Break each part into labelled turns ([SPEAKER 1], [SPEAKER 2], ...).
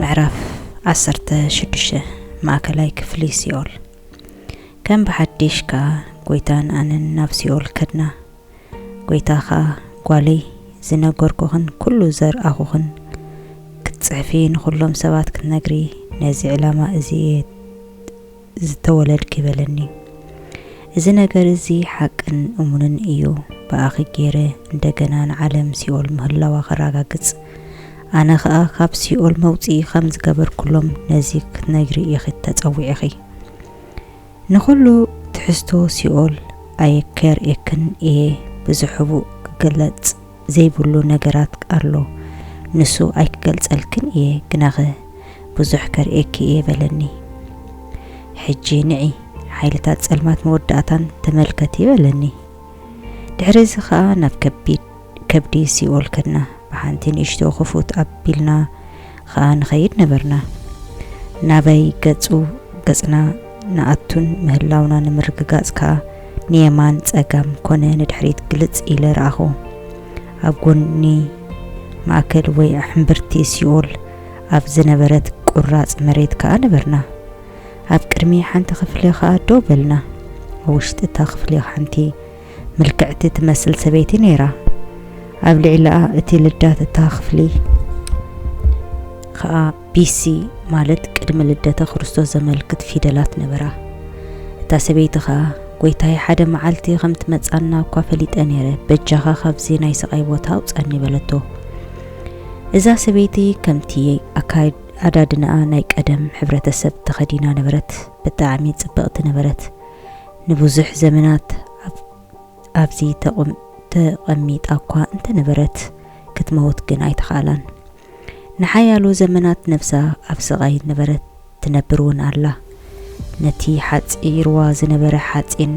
[SPEAKER 1] ምዕራፍ ዓሰርተ ሽዱሽተ ማእከላይ ክፍሊ ሲኦል ከም ብሓድሽ ከኣ ጐይታን ኣነን ናብ ሲኦል ከድና። ጐይታ ኸኣ ጓለይ ዝነገርኩኽን ኵሉ ዘርኣኹኽን ክትጽሕፊ ንዅሎም ሰባት ክትነግሪ ነዚ ዕላማ እዚ እየ ዝተወለድኪ በለኒ እዚ ነገር እዚ ሓቅን እሙንን እዩ ብኣኺ ገይረ እንደገና ንዓለም ሲኦል ምህላዋ ከራጋግጽ ኣነ ከኣ ካብ ሲኦል መውጽኢ ከም ዝገበርኩሎም ነዚ ክትነግሪ ኢኺ ተጸዊዕኺ ንኹሉ ትሕዝቶ ሲኦል ኣየከር ኤክን እየ ብዙሕቡእ ክገለጽ ዘይብሉ ነገራት ኣሎ ንሱ ኣይክገልጸልክን እየ ግናኸ ብዙሕ ከርእየኪ እየ በለኒ ሕጂ ንዒ ሓይልታት ጸልማት መወዳእታን ተመልከቲ በለኒ ድሕሪ እዚ ከኣ ናብ ከቢድ ከብዲ ሲኦል ከድና ብሓንቲ ንእሽቶ ክፉት ኣቢልና ኸኣ ንኸይድ ነበርና። ናበይ ገጹ ገጽና ንኣቱን ምህላውና ንምርግጋጽ ከኣ ንየማን ጸጋም ኮነ ንድሕሪት ግልጽ ኢለ ረኣኹ። ኣብ ጎኒ ማእከል ወይ ሕምብርቲ ሲኦል ኣብ ዝነበረት ቁራጽ መሬት ከኣ ነበርና። ኣብ ቅድሚ ሓንቲ ክፍሊ ከኣ ደው በልና። ኣብ ውሽጢ እታ ክፍሊ ሓንቲ ምልክዕቲ ትመስል ሰበይቲ ነይራ። ኣብ ልዕሊኣ እቲ ልዳት እታ ክፍሊ ከኣ ቢሲ ማለት ቅድሚ ልደተ ክርስቶስ ዘመልክት ፊደላት ነበራ። እታ ሰበይቲ ከኣ ጎይታይ ሓደ መዓልቲ ከም ትመጻና እኳ ፈሊጠ ነይረ፣ በጃኻ ካብዚ ናይ ስቓይ ቦታ ኣውጻኒ በለቶ። እዛ ሰበይቲ ከምቲ ኣካዳድናኣ ናይ ቀደም ሕብረተሰብ ተኸዲና ነበረት፣ ብጣዕሚ ጽብቕቲ ነበረት። ንብዙሕ ዘመናት ኣብዚ ተቐሚጣ'ኳ እንተ ነበረት፣ ክትመውት ግን ኣይተኻእላን። ንሓያሎ ዘመናት ነብሳ ኣብ ስቓይ ነበረት፣ ትነብር'ውን ኣላ። ነቲ ሓጺርዋ ዝነበረ ሓጺን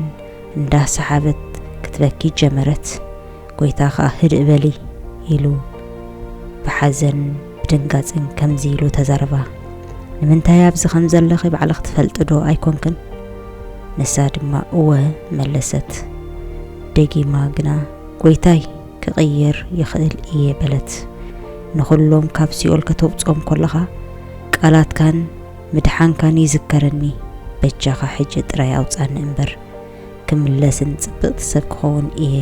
[SPEAKER 1] እንዳሰሓበት ክትበኪ ጀመረት። ጐይታ ኸኣ ህድእ በሊ ኢሉ ብሓዘን። ብድንጋጽን ከምዚ ኢሉ ተዛረባ፣ ንምንታይ ኣብዚ ከም ዘለኺ ባዕልኽ ትፈልጥዶ ኣይኮንክን? ንሳ ድማ እወ መለሰት። ደጊማ ግና ጎይታይ ክቕይር ይኽእል እየ በለት። ንኹሎም ካብ ሲኦል ከተውጽኦም ኮለኻ ቃላትካን ምድሓንካን ይዝከረኒ፣ በጃኻ ሕጂ ጥራይ ኣውጽኣኒ እምበር። ክምለስን ጽብቕቲ ሰብ ክኸውን እየ፣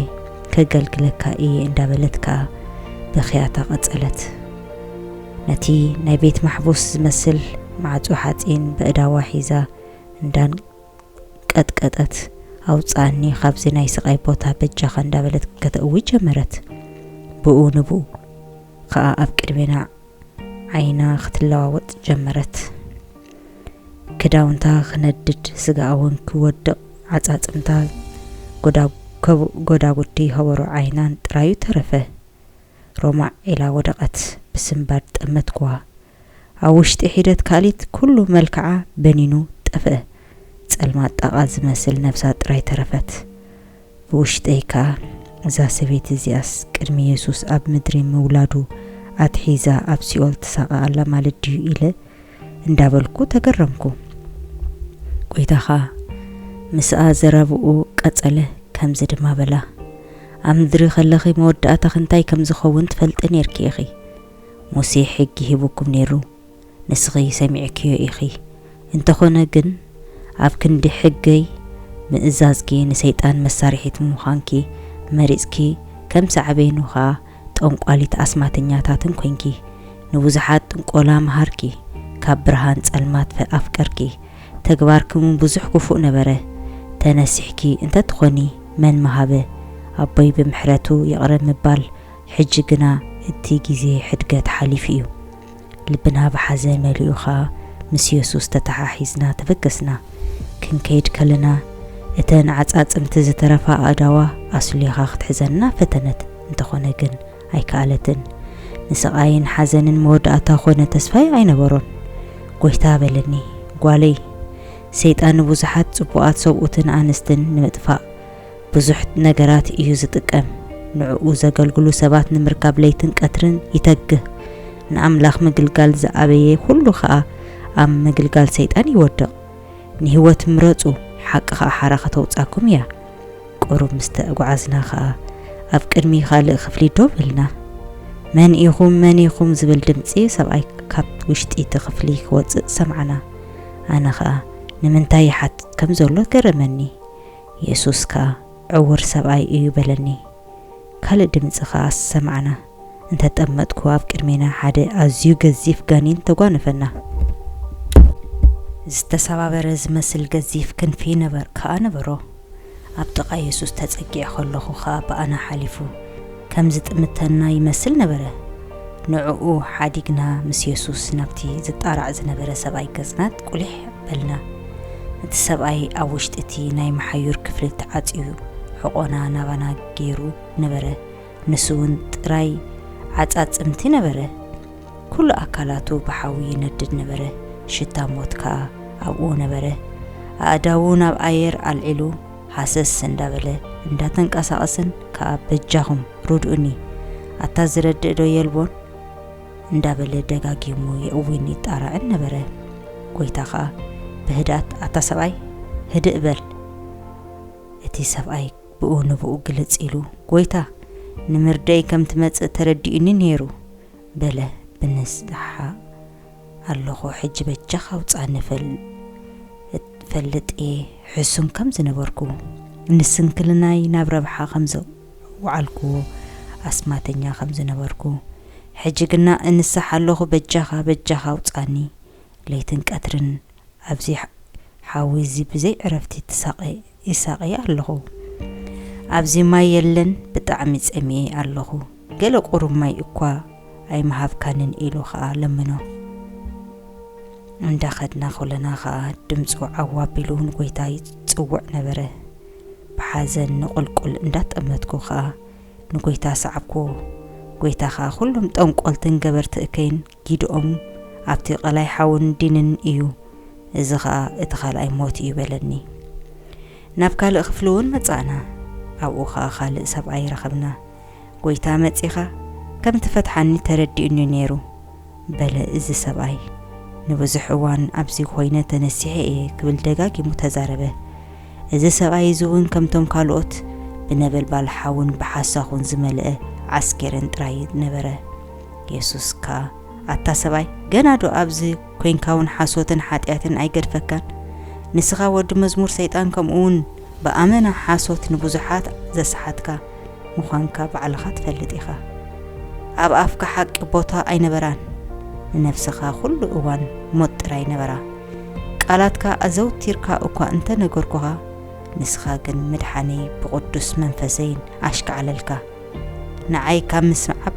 [SPEAKER 1] ከገልግለካ እየ እንዳበለት ከኣ ብኽያታ ቀጸለት። ነቲ ናይ ቤት ማሕቡስ ዝመስል ማዕጾ ሓጺን በእዳዋ ሒዛ እንዳንቀጥቀጠት ኣውጽኣኒ ካብዚ ናይ ስቓይ ቦታ በጃኻ እንዳበለት ከተእዊ ጀመረት። ብኡ ንብኡ ከኣ ኣብ ቅድሜና ዓይና ክትለዋወጥ ጀመረት። ክዳውንታ ክነድድ፣ ስጋኣ'ውን ክወድቕ፣ ዓጻጽምታ ጎዳጉዲ ሀበሩ ዓይናን ጥራዩ ተረፈ። ሮማዕ ኢላ ወደቐት። ብስንባድ ጠመትኩዋ። ኣብ ውሽጢ ሒደት ካልኢት ኩሉ መልክዓ በኒኑ ጠፍኣ። ጸልማት ጣቓ ዝመስል ነብሳ ጥራይ ተረፈት። ብውሽጠይ ከኣ፣ እዛ ሰበይቲ እዚኣስ ቅድሚ የሱስ ኣብ ምድሪ ምውላዱ ኣትሒዛ ኣብ ሲኦል ትሳቐ ኣላ ማለት ድዩ? ኢለ እንዳበልኩ ተገረምኩ። ጐይታ ኸኣ ምስኣ ዘረባኡ ቀጸለ፣ ከምዚ ድማ በላ፣ ኣብ ምድሪ ከለኺ መወዳእታኺ እንታይ ከም ዝኸውን ትፈልጢ ኔርኪ ኢኺ። ሙሴ ሕጊ ሂቡኩም ኔሩ። ንስኺ ሰሚዕክዮ ኢኺ እንተኾነ ግን ኣብ ክንዲ ሕገይ ምእዛዝኪ ንሰይጣን መሳርሒት ምዃንኪ መሪጽኪ ከም ሳዕቤኑ ከኣ ጠንቋሊት ኣስማተኛታትን ኮንኪ ንብዙሓት ጥንቆላ መሃርኪ ካብ ብርሃን ጸልማት ኣፍቀርኪ ተግባርኪውን ብዙሕ ክፉእ ነበረ ተነሲሕኪ እንተትኾኒ መን ምሃበ ኣቦይ ብምሕረቱ ይቕረ ምባል ሕጂ ግና እቲ ግዜ ሕድገት ሓሊፉ እዩ ልብና ብሓዘ መሊኡ ኸኣ ምስ የሱስ ተተሓሒዝና ተበገስና። ክንከይድ ከለና እተን ዓጻጽምቲ ዝተረፋ ኣእዳዋ ኣስሊኻ ክትሕዘና ፈተነት፣ እንተኾነ ግን ኣይከኣለትን። ንስቓይን ሓዘንን መወዳእታ ኮነ ተስፋይ ኣይነበሮን። ጎይታ በለኒ፣ ጓለይ፣ ሰይጣን ንብዙሓት ጽቡቓት ሰብኡትን ኣንስትን ንምጥፋእ፣ ብዙሕ ነገራት እዩ ዝጥቀም። ንዕኡ ዘገልግሉ ሰባት ንምርካብ ለይትን ቀትርን ይተግህ። ንኣምላኽ ምግልጋል ዝኣበየ ዅሉ ኸኣ ኣብ ምግልጋል ሰይጣን ይወድቕ። ንህይወት ምረጹ፣ ሓቂ ኸኣ ሓራ ኸተውጽኣኩም እያ። ቍሩብ ምስ ተጓዓዝና ኸኣ፣ ኣብ ቅድሚ ኻልእ ኽፍሊ ደው ኢልና። መን ኢኹም? መን ኢኹም? ዝብል ድምጺ ሰብኣይ ካብ ውሽጢ እቲ ኽፍሊ ኽወጽእ ሰማዕና። ኣነ ኸኣ፣ ንምንታይ ይሓትት ከም ዘሎ ገረመኒ። የሱስ ከኣ ዕዉር ሰብኣይ እዩ በለኒ። ካልእ ድምጺ ከኣ ሰማዕና። እንተ ጠመትኩ ኣብ ቅድሜና ሓደ ኣዝዩ ገዚፍ ጋኒን ተጓነፈና። ዝተሰባበረ ዝመስል ገዚፍ ክንፊ ከኣ ነበሮ። ኣብ ጥቓ የሱስ ተጸጊዐ ከለኹ ከኣ ብኣና ሓሊፉ። ከም ዚጥምተና ይመስል ነበረ። ንዕኡ ሓዲግና ምስ የሱስ ናብቲ ዚጣራዕ ዝነበረ ሰብኣይ ገጽና ቊሊሕ በልና። እቲ ሰብኣይ ኣብ ውሽጢ እቲ ናይ መሓዩር ክፍሊ ተዓጽዩ ሕቖና ናባና ገይሩ ነበረ፣ ንሱውን ጥራይ ዓጻጽምቲ ነበረ። ኩሉ ኣካላቱ ብሓዊ ይነድድ ነበረ፣ ሽታ ሞት ከኣ ኣብኡ ነበረ። ኣእዳዉ ናብ ኣየር ኣልዒሉ፣ ሃሰስ እንዳበለ እንዳተንቀሳቀሰን ከኣ በጃኹም ርድኡኒ ኣታ ዝረድእ ዶ የልቦን እንዳበለ ደጋጊሙ የእዊን ይጣራዕን ነበረ። ጎይታ ከኣ ብህድኣት ኣታ ሰብኣይ ህድእ በል እቲ ሰብኣይ ብኡ ንብኡ ግልጽ ኢሉ ጎይታ ንምርደይ ከም ትመጽእ ተረዲኡኒ ኔሩ በለ ብንስሓ ኣለኹ ሕጂ በጃኻ ውጻኒ ፈልጥ እየ ሕሱም ከም ዝነበርኩ ንስንክልናይ ናብ ረብሓ ከም ዘውዓልክዎ ኣስማተኛ ከም ዝነበርኩ ሕጂ ግና እንሳሕ ኣለኹ በጃኻ በጃኻ ውጻኒ ለይትን ቀትርን ኣብዚ ሓዊ እዚ ብዘይ ዕረፍቲ ትሳቐ ይሳቐ ኣለኹ ኣብዚ ማይ የለን ብጣዕሚ ጸሚኤ ኣለኹ ገለ ቁሩብ ማይ እኳ ኣይምሃብካንን ኢሉ ኸኣ ለመኖ። እንዳ ኸድና ኹለና ኸኣ ድምጹ ዓው ኣቢሉ ንጎይታ ይጽውዕ ነበረ። ብሓዘን ንቁልቁል እንዳ ጠመትኩ ኸኣ ንጎይታ ሰዓብክዎ። ጎይታ ኸኣ ኹሎም ጠንቆልትን ገበርቲ እከይን ጊድኦም ኣብቲ ቐላይ ሓውን ዲንን እዩ፣ እዚ ኸኣ እቲ ኻልኣይ ሞት እዩ በለኒ። ናብ ካልእ ኽፍሊ እውን መጻእና፣ ኣብኡ ኸኣ ኻልእ ሰብኣይ ረኸብና። ጐይታ መጺኻ ኸም እትፈትሓኒ ተረዲኡኒ እዩ ነይሩ በለ እዚ ሰብኣይ። ንብዙሕ እዋን ኣብዚ ዀይነ ተነሲሐ እየ ክብል ደጋጊሙ ተዛረበ። እዚ ሰብኣይ እዚ እውን ከምቶም ካልኦት ብነበልባል ሓውን ብሓሳኹን ዝመልአ ዓስኬሬን ጥራይ ነበረ። የሱስ ከኣ፣ ኣታ ሰብኣይ፣ ገናዶ ኣብዚ ኰይንካውን ሓሶትን ሓጢኣትን ኣይገድፈካን? ንስኻ ወዲ መዝሙር ሰይጣን ከምኡውን ብኣመና ሓሶት ንብዙሓት ዘስሓትካ ምዃንካ ባዕልኻ ትፈልጥ ኢኻ። ኣብ ኣፍካ ሓቂ ቦታ ኣይነበራን፣ ንነፍስኻ ዅሉ እዋን ሞት ጥራይ ነበራ። ቃላትካ ኣዘውቲርካ እኳ እንተ ነገርኩኻ፣ ንስኻ ግን ምድሓነይ ብቕዱስ መንፈሰይን ኣሽካዕለልካ። ንዓይ ካብ ምስዓብ፣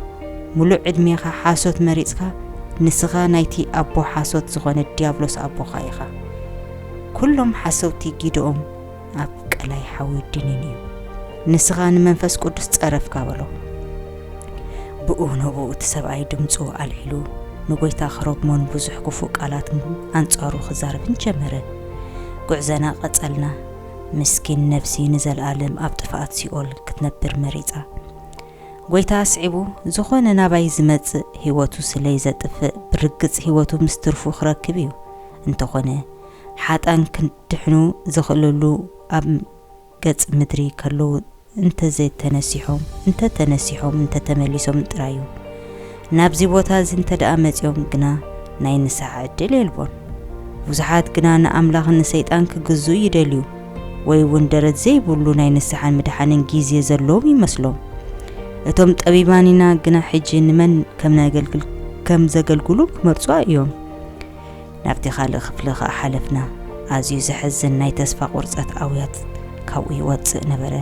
[SPEAKER 1] ምሉእ ዕድሜኻ ሓሶት መሪጽካ፣ ንስኻ ናይቲ ኣቦ ሓሶት ዝኾነ ድያብሎስ ኣቦኻ ኢኻ። ኩሎም ሓሰውቲ ጊደኦም፣ ኣብ ቀላይ ሓዊ ድኒን እዩ ንስኻ ንመንፈስ ቅዱስ ጸረፍካ በሎ ብኡ ነብኡ እቲ ሰብኣይ ድምፁ ኣልዒሉ ንጎይታ ክረግሞን ብዙሕ ክፉእ ቃላት ኣንጻሩ ክዛረብን ጀመረ ጉዕዘና ቀጸልና ምስኪን ነብሲ ንዘለኣለም ኣብ ጥፍኣት ሲኦል ክትነብር መሪጻ ጎይታ ኣስዒቡ ዝኾነ ናባይ ዝመጽእ ህይወቱ ስለይ ዘጥፍእ ብርግጽ ህይወቱ ምስ ትርፉ ክረክብ እዩ እንተኾነ ሓጣን ክድሕኑ ዝኽእልሉ ኣብ ገጽ ምድሪ ከለዉ እንተዘይተነሲሖም፣ እንተ ተነሲሖም እንተ ተመሊሶም ጥራይ እዩ። ናብዚ ቦታ እዚ እንተደኣ መጺኦም ግና ናይ ንስሓ ዕድል የልቦን። ብዙሓት ግና ንኣምላኽን ንሰይጣን ክግዝኡ ይደልዩ ወይ እውን ደረት ዘይብሉ ናይ ንስሓን ምድሓንን ግዜ ዘለዎም ይመስሎም። እቶም ጠቢባን ኢና ግና ሕጂ ንመን ከም ነገልግል ከም ዘገልግሉ ክመርጹ እዮም። ናብቲ ካልእ ክፍሊ ከኣ ሓለፍና። ኣዝዩ ዘሕዝን ናይ ተስፋ ቁርጸት ኣውያት ካብኡ ይወጽእ ነበረ።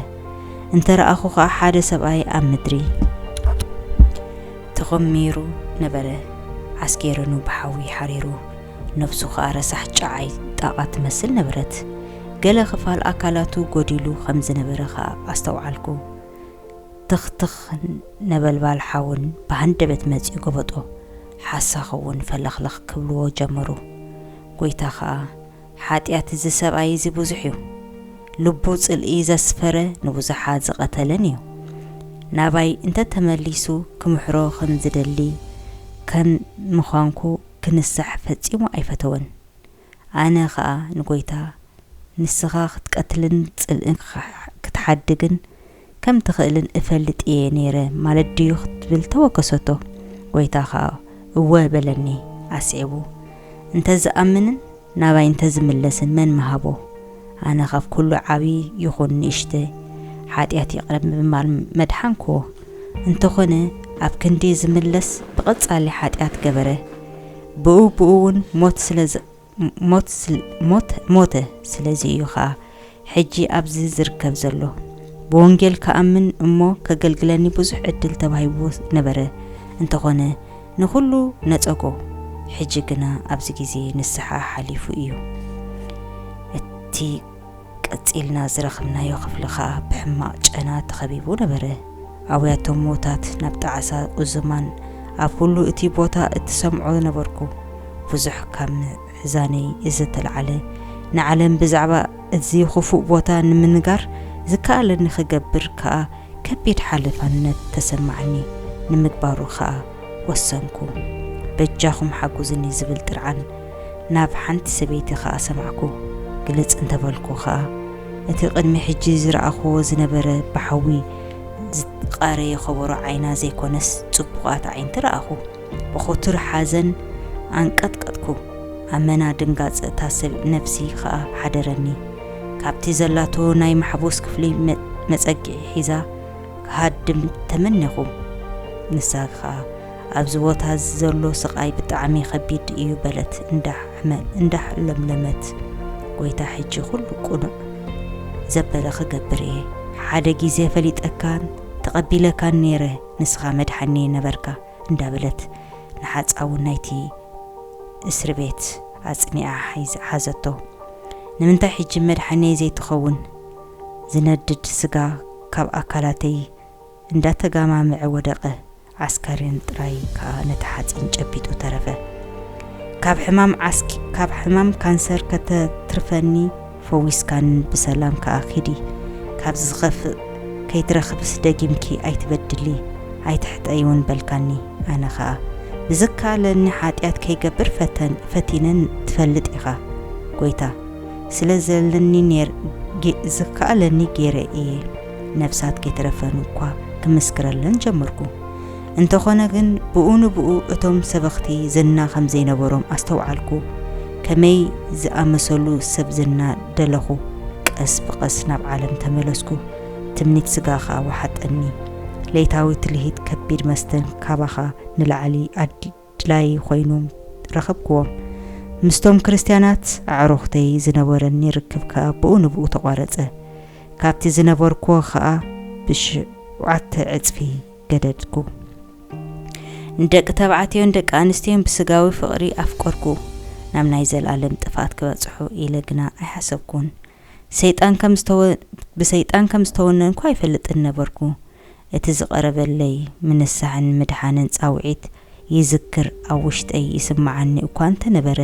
[SPEAKER 1] እንተ ረኣኹ ከኣ ሓደ ሰብኣይ ኣብ ምድሪ ተኾሚሩ ነበረ። ዓስኬረኑ ብሓዊ ሓሪሩ፣ ነፍሱ ከኣ ረሳሕ ጨዓይ ጣቓ ትመስል ነበረት። ገለ ክፋል ኣካላቱ ጎዲሉ ከም ዝነበረ ከኣ ኣስተውዓልኩ። ትኽ ትኽ ነበልባል ሓውን ብሃንደበት መጺኡ ገበጦ። ሓሳኽ እውን ፈለኽለኽ ክብልዎ ጀመሩ። ጐይታ ኸኣ፣ ሓጢኣት እዚ ሰብኣይ እዚ ብዙሕ እዩ። ልቡ ጽልኢ ዘስፈረ ንብዙሓት ዝቐተለን እዩ። ናባይ እንተ ተመሊሱ ክምሕሮ ኸም ዝደሊ ከም ምዃንኩ ክንሳሕ ፈጺሙ ኣይፈተወን። ኣነ ኸኣ ንጐይታ፣ ንስኻ ኽትቀትልን ጽልኢ ኽትሓድግን ከም እትኽእልን እፈልጥ እየ ነይረ ማለት ድዩ? ክትብል ተወከሰቶ። ጐይታ ኸኣ እወ በለኒ። ኣስዒቡ፣ እንተ ዝኣምንን ናባይ እንተ ዝምለስን መን ምሃቦ? ኣነ ኻብ ኵሉ ዓብዪ ይኹን ንእሽተ ሓጢኣት ይቕረ ብምባል መድሓንክዎ። እንተዀነ ኣብ ክንዲ ዝምለስ ብቐጻሊ ሓጢኣት ገበረ። ብኡ ብኡ ውን ሞት ስለ ሞት ሞት ሞተ ስለዚ እዩ ከኣ ሕጂ ኣብዚ ዝርከብ ዘሎ ብወንጌል ክኣምን እሞ ከገልግለኒ ብዙሕ ዕድል ተባሂብዎ ነበረ እንተኾነ ንኹሉ ነጸጎ ሕጂ ግና ኣብዚ ግዜ ንስሓ ሓሊፉ እዩ እቲ ቀጺልና ዝረኽብናዮ ክፍሊ ከኣ ብሕማቕ ጨና ተኸቢቡ ነበረ። ኣውያቶም ሞታት ናብ ጣዕሳ ኡዝማን ኣብ ኩሉ እቲ ቦታ እትሰምዖ ነበርኩ። ብዙሕ ካብ ምሕዛነይ እዘተላዕለ፣ ንዓለም ብዛዕባ እዚ ክፉእ ቦታ ንምንጋር ዝከኣለኒ ክገብር ከኣ ከቢድ ሓለፋነት ተሰማዓኒ። ንምግባሩ ከኣ ወሰንኩ። በጃኹም ሓጉዝኒ ዝብል ጥርዓን ናብ ሓንቲ ሰበይቲ ኸኣ ሰማዕኩ፣ ግለጽ እንተ በልኩ ኸኣ፣ እቲ ቕድሚ ሕጂ ዝረኣኽዎ ዝነበረ ብሓዊ ዝትቓረየ ኸበሮ ዓይና ዘይኰነስ ጽቡቓት ኣዒንቲ ረኣኹ። ብኽቱር ሓዘን ኣንቀጥቀጥኩ፣ ኣመና ድንጋጸ እታ ሰብ ነፍሲ ኸኣ ሓደረኒ። ካብቲ ዘላቶ ናይ ማሕቡስ ክፍሊ መጸግዒ ሒዛ ክሃድም ተመኔኹ፣ ንሳ ኸኣ ኣብዚ ቦታ እዚ ዘሎ ስቓይ ብጣዕሚ ኸቢድ እዩ በለት እንዳሕለምለመት። ጐይታ ሕጂ ኹሉ ቅኑዕ ዘበለ ኽገብር እየ። ሓደ ግዜ ፈሊጠካን ተቐቢለካን ነይረ ንስኻ መድሓኒየይ ነበርካ እንዳበለት ንሓጻውን ናይቲ እስርቤት ኣጽኒዓ ሓዘቶ። ንምንታይ ሕጂ መድሓኒየይ ዘይትኸውን? ዝነድድ ስጋ ካብ ኣካላተይ እንዳተጋማመዐ ወደቐ። ዓስካሬን ጥራይ ከኣ ነቲ ሓጺን ጨቢጡ ተረፈ። ካብ ሕማም ዓስኪ ካብ ሕማም ካንሰር ከተትርፈኒ ፈዊስካኒ ብሰላም ከኣ ኪዲ። ካብዚ ዝኸፍእ ከይትረኽብስ ደጊምኪ ኣይትበድሊ ኣይትሕጠይ ውን በልካኒ። ኣነ ከኣ ብዝከኣለኒ ሓጢኣት ከይገብር ፈተን ፈቲነ ትፈልጥ ኢኻ ጎይታ። ስለ ዘለኒ ኔር ጌ ዝከኣለኒ ጌረ ኢየ። ነፍሳት ከይተረፈን እኳ ክምስክረለን ጀመርኩ። እንተኾነ ግን ብኡ ንብኡ እቶም ሰበኽቲ ዝና ከም ዘይነበሮም ኣስተውዓልኩ። ከመይ ዝኣመሰሉ ሰብ ዝና ደለኹ! ቀስ ብቐስ ናብ ዓለም ተመለስኩ፣ ትምኒት ስጋ ኸኣ ወሓጠኒ። ለይታዊ ትልሂት ከቢድ መስተን ካባኻ ንላዕሊ ኣዲ። ኣድላዪ ዀይኑ ረኸብክዎም። ምስቶም ክርስትያናት ኣዕሩኽተይ ዝነበረኒ ርክብ ከኣ ብኡ ንብኡ ተቛረጸ፣ ካብቲ ዝነበርክዎ ኸኣ ብሸውዓተ ዕጽፊ ገደድኩ። ንደቂ ተባዕትዮን ደቂ ኣንስትዮን ብስጋዊ ፍቕሪ ኣፍቀርኩ፣ ናብ ናይ ዘለኣለም ጥፍኣት ክበጽሑ ኢለ ግና ኣይሓሰብኩን። ሰይጣን ከም ብሰይጣን ከም ዝተወነንኩ ኣይፈልጥን ነበርኩ፣ እቲ ዝቐረበለይ ምንሳሕን ምድሓንን ጻውዒት ይዝክር ኣብ ውሽጠይ ይስምዓኒ እኳ እንተ ነበረ፣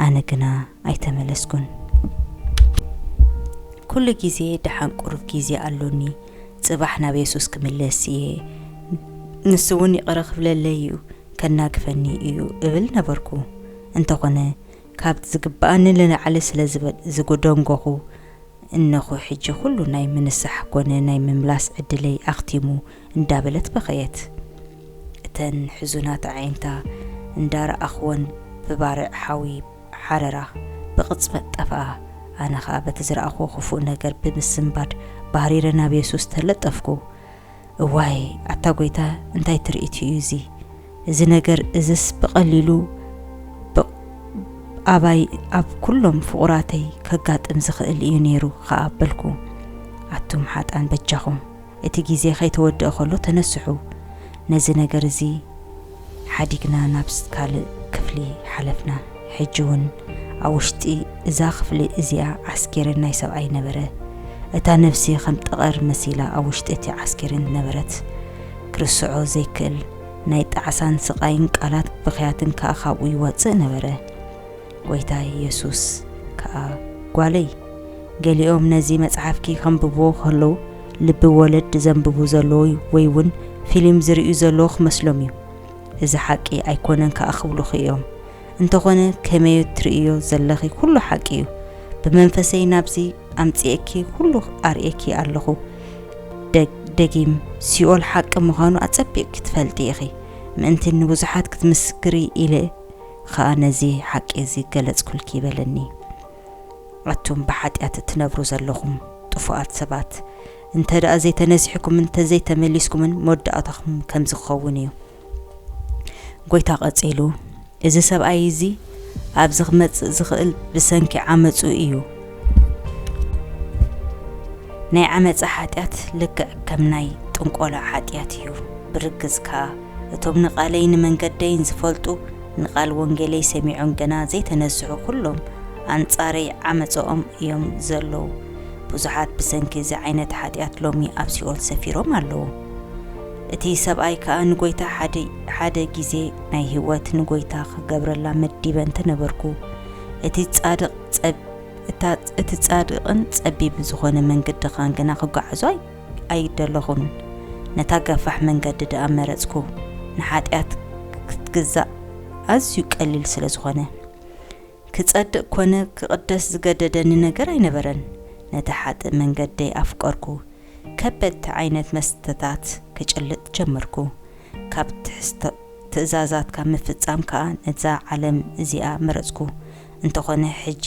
[SPEAKER 1] ኣነ ግና ኣይተመለስኩን። ኩሉ ግዜ ደሓን ቁሩብ ግዜ ኣሎኒ፣ ጽባሕ ናብ የሱስ ክምለስ እየ፣ ንሱውን ይቕረ ክብለለይ እዩ፣ ከናግፈኒ እዩ እብል ነበርኩ። እንተኾነ ካብቲ ዝግብኣኒ ንላዕሊ ስለ ዝደንጎኹ እነኹ ሕጂ ኩሉ ናይ ምንሳሕ ኮነ ናይ ምምላስ ዕድለይ ኣኽቲሙ እንዳበለት በኸየት። እተን ሕዙናት ኣዒንታ እንዳረኣኹወን ብባርዕ ሓዊ ሓረራ ብቕጽበት ጠፍኣ። ኣነ ኸኣ በቲ ዝረኣኹዎ ክፉእ ነገር ብምስንባድ ባህሪረ ናብ የሱስ ተለጠፍኩ። እዋይ ኣታ ጎይታ እንታይ ትርኢት እዩ እዚ እዚ ነገር እዝስ ብቀሊሉ ብ ኣባይ ኣብ ኩሎም ፍቁራተይ ከጋጥም ዝክእል እዩ ነይሩ ከኣ በልኩ ኣቱም ሓጥኣን በጃኩም እቲ ግዜ ከይተወድእ ከሎ ተነስሑ ነዚ ነገር እዚ ሓዲግና ናብ ካልእ ክፍሊ ሓለፍና። ሕጂ ውን ኣብ ውሽጢ እዛ ክፍሊ እዚኣ ዓስኬሬን ናይ ሰብኣይ ነበረ። እታ ነብሲ ከም ጠቐር መሲላ ኣብ ውሽጢ እቲ ዓስኬሬን ነበረት። ክርስዖ ዘይክእል ናይ ጣዕሳን ስቓይን ቃላት ብኽያትን ከኣ ካብኡ ይወጽእ ነበረ። ጐይታ የሱስ ከኣ፣ ጓለይ፣ ገሊኦም ነዚ መጽሓፍኪ ኼንብብዎ ኸለዉ፣ ልቢ ወለድ ዜንብቡ ዘለዉ ወይ እውን ፊልም ዚርእዩ ዘለዉ ኺመስሎም እዩ። እዚ ሓቂ ኣይኰነን ከኣ ኺብሉኺ እዮም። እንተዀነ፣ ከመዮ እትርእይዮ ዘለኺ ዅሉ ሓቂ እዩ። ብመንፈሰይ ናብዚ ኣምጺኤኪ ዅሉ ኣርእየኪ ኣለኹ። ደጊም፣ ሲኦል ሓቂ ምዃኑ ኣጸቢቕኪ ትፈልጢ ኢኺ። ምእንቲ ንብዙሓት ክትምስክሪ ኢለ፣ ኸኣ ነዚ ሓቂ እዚ ገለጽኩልኪ በለኒ። ኣቱም ብሓጢኣት እትነብሩ ዘሎኹም ጥፉኣት ሰባት፣ እንተ ደኣ ዘይተነሲሕኩምን እንተ ዘይተመሊስኩምን መወዳእታኹም ከምዚ ክኸውን እዩ። ጐይታ ቀጺሉ እዚ ሰብኣይ እዚ ኣብዚ ክመጽእ ዝኽእል ብሰንኪ ዓመጹ እዩ፣ ናይ ዓመጻ ሓጢኣት ልክዕ ከም ናይ ጥንቆላ ሓጢኣት እዩ፣ ብርግጽ ከኣ እቶም ንቓለይን ንመንገደይን ዝፈልጡ ንቓል ወንጌለይ ሰሚዖም ገና ዘይተነስሑ ኩሎም ኣንጻረይ ዓመጸኦም እዮም ዘለዉ። ብዙሓት ብሰንኪ እዚ ዓይነት ሓጢኣት ሎሚ ኣብ ሲኦል ሰፊሮም ኣለዉ። እቲ ሰብኣይ ከኣ ንጎይታ ሓደ ሓደ ግዜ ናይ ህይወት ንጎይታ ክገብረላ መዲበ እንተነበርኩ እቲ ጻድቕ ጸብ እታ እቲ ጻድቕን ጸቢብን ዝኾነ መንገድኻን ግና ክጓዓዞ ኣይ ኣይደለኹን ነታ ገፋሕ መንገዲ ደኣ መረጽኩ ንሓጢኣት ክትግዛእ ኣዝዩ ቀሊል ስለ ዝኾነ ክጸድቕ ኮነ ክቕደስ ዝገደደኒ ነገር ኣይነበረን ነቲ ሓጥእ መንገደይ ኣፍቀርኩ ከበድቲ ዓይነት መስተታት ክጭልጥ ጀመርኩ ካብ ትሕዝቶ ትእዛዛትካ ምፍጻም ከኣ ነዛ ዓለም እዚኣ መረጽኩ እንተኾነ ሕጂ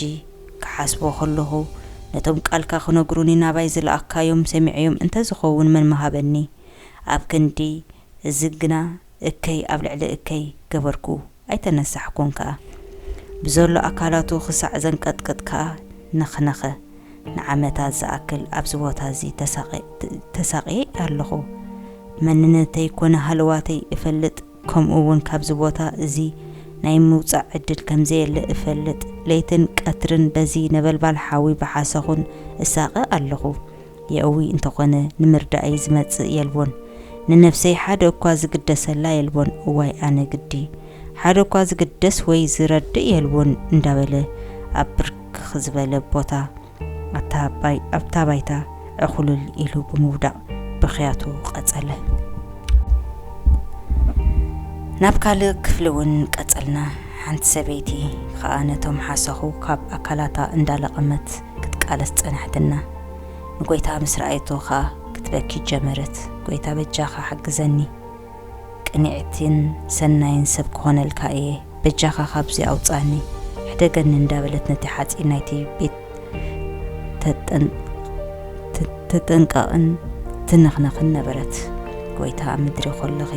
[SPEAKER 1] ክሓስቦ ከለኹ ነቶም ቃልካ ክነግሩኒ ናባይ ዝለኣካዮም ሰሚዐዮም እንተዝኸውን መን ምሃበኒ ኣብ ክንዲ እዚ ግና እከይ ኣብ ልዕሊ እከይ ገበርኩ ኣይተነሳሕኩን ከኣ ብዘሎ ኣካላቱ ክሳዕ ዘንቀጥቅጥ ከኣ ነኽነኸ ንዓመታት ዝኣክል ኣብዚ ቦታ እዚ ተሳቅየ ኣለኹ መንነተይ ኮነ ሃለዋተይ እፈልጥ ከምኡ እውን ካብዚ ቦታ እዚ ናይ ምውጻእ ዕድል ከም ዘየለ እፈልጥ። ለይትን ቀትርን በዚ ነበልባል ሓዊ ብሓሰኹን እሳቐ ኣለኹ። የእዊ እንተኾነ ንምርዳእይ ዝመጽእ የልቦን። ንነፍሰይ ሓደ እኳ ዝግደሰላ የልቦን። እዋይ ኣነ ግዲ! ሓደ እኳ ዝግደስ ወይ ዝረድእ የልቦን እንዳበለ ኣብ ብርክኽ ዝበለ ቦታ፣ ኣታባይ ኣብታ ባይታ ዕኹልል ኢሉ ብምውዳቕ ብኽያቱ ቀጸለ። ናብ ካልእ ክፍሊ እውን ቀጸልና። ሓንቲ ሰበይቲ ኸኣ ነቶም ሓሰኹ ካብ ኣካላታ እንዳለቐመት ክትቃለስ ጸናሕትና። ንጎይታ ምስ ረኣየቶ ኸኣ ክትበኪ ጀመረት፣ ጎይታ በጃኻ ሓግዘኒ! ቅንዕቲን ሰናይን ሰብ ክኾነልካ እየ በጃኻ ካብዚ ኣውጻኒ ሕደገኒ እንዳበለት ነቲ ሓጺን ናይቲ ቤት ተጠንቀቕን ትንኽነኽን ነበረት። ጎይታ ኣብ ምድሪ ኮለኺ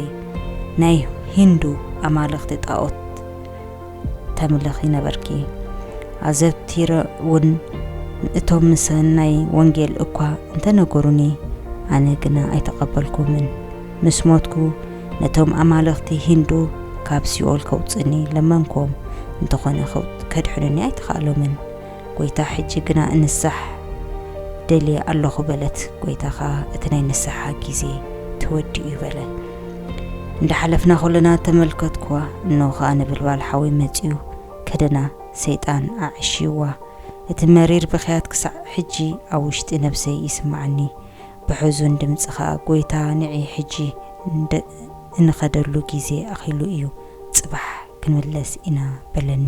[SPEAKER 1] ናይ ሂንዱ ኣማልኽቲ ጣኦት ተምልኺ ነበርኪ። ኣዘውቲረ እውን እቶም ምሰናይ ወንጌል እኳ እንተነገሩኒ ኣነ ግና ኣይተቐበልኩምን። ምስ ሞትኩ ነቶም ኣማልኽቲ ሂንዱ ካብ ሲኦል ከውጽእኒ ለመንክዎም፣ እንተኾነ ከድሕኑኒ ኣይተኻእሎምን። ጐይታ ሕጂ ግና እንሳሕ ደልየ ኣሎኹ በለት። ጐይታ ኸኣ እቲ ናይ ንስሓ ግዜ ተወዲኡ'ዩ በለ። እንዳ ሓለፍና ኹልና ተመልከትክዋ፣ እንሆ ኸኣ ነበልባል ሓዊ መጺኡ ከደና፣ ሰይጣን ኣዕሽይዋ። እቲ መሪር ብኽያት ክሳዕ ሕጂ ኣብ ውሽጢ ነብሰይ ይስምዓኒ። ብሕዙን ድምጺ ከኣ ጎይታ ንዒ ሕጂ እንኸደሉ ግዜ ኣኺሉ እዩ፣ ጽባሕ ክንምለስ ኢና በለኒ።